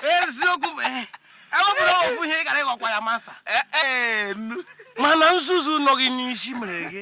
eziokwu bụ eh, ewepụrụ ofu ihe ị gara ịghọkwa ya masta eh, eh, mana nzuzu nọ gị n'isi mere gị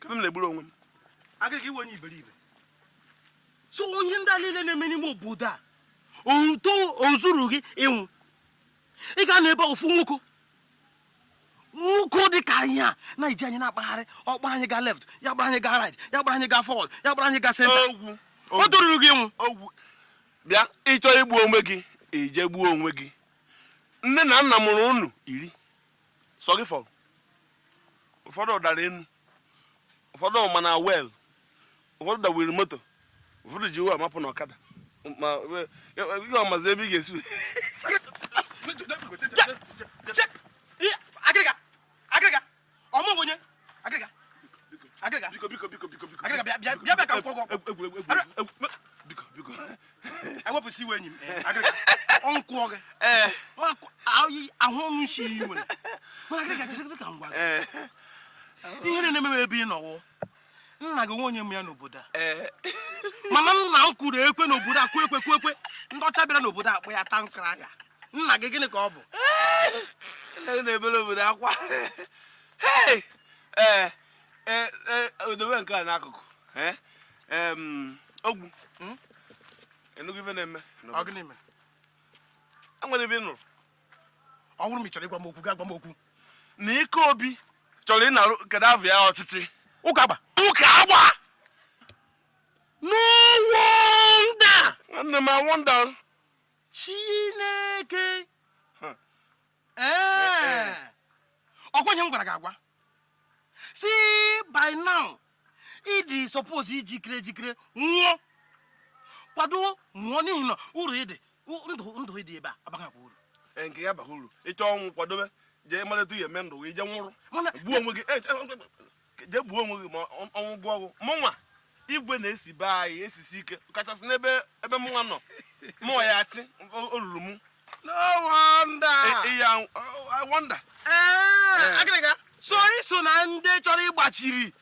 ka m na-egburu onwe m agịrịga ị wụ onye iberibe so ihe ndị a niile na-eme n'ime obodo a o zuru gị ịnwụ ị ga-anọ ebe ofu nwoke nwoke dị ka anyị a na-eji anyị na-akpagharị ọ gbara anyị ga left ya gbara anyị ga right ya gbara anyị ga forward ya gbara anyị ga center o toruru gị ịnwụ ogwu bịa ị chọọ igbu onwe gị i jee gbuo onwe gị nne na nna mụrụ unu iri sọ gị fọrọ ụfọdụ dara enu ụfọdụ ma na well ụfọdụ dawiri moto ụfọdụ ji uwe amapụ na ọkada ma ihe ọmazi ebe ị ga-esi agịrịga agịrịga biko biko biko biko biko agịrịga bịa bịa bịa ka m kọọrọ gị biko biko ewepụsị iwe enyi m agịrịga ọ nkwụọ gị ahụ ọnụ isi iyi nwere mana agịrịga chere ka m gwa gị ihe na-eme ebe ị nọ wụ nna gị onye ma ya n'obodo a mana nna m kụrụ ekwe n'obodo a kụọ ekwe kụọ ekwe ndị ọcha bịara n'obodo a kpọ ya town crier nna gị gịnị ka ọ bụ na-ebere obodo akwa Hey! Eh, eh, eh, odobe nke a n'akụkụ. Eh? Em, ogwu. Hmm? Ị nụgo ife na-eme. Ọ gịnị mere? E nwere ife ị nụrụ. Ọ bụrụ ma ị chọrọ ịgwa m okwu, gaa gwa m okwu. Na ike obi chọrọ ịnarụ kedu afọ ya ọchịchị. Ụka agba. Ụka agba! No wonder! Nwanne m I wonder. Chineke! ee ọkwa ihe m gwara gị agwa sị by now ị dị suppose ijikere ejikere nwụọ kwado nwụọ n'ihi na uru ị dị ndụ ndụ ị dị ebe a abaghịkwa uru e, nke ya baghị uru ị chọọ ọnwụ kwadobe jee maleta ihe eme ndụ gị i jee nwụrụ gbuo onwe gị e, e, jee gbuo onwe gị ma ọnwụ gụọ ogwu mụnwa igwe na-esi be anyị esisi ike kachasị n'ebe ebe mụnwa nọ mụ ya-achị o ruru mụ no wonder iya e, e, wonder agịrịga so ị so na ndị chọrọ ịgbachiri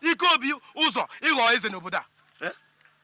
ike obi ụzọ ịghọ eze n'obodo a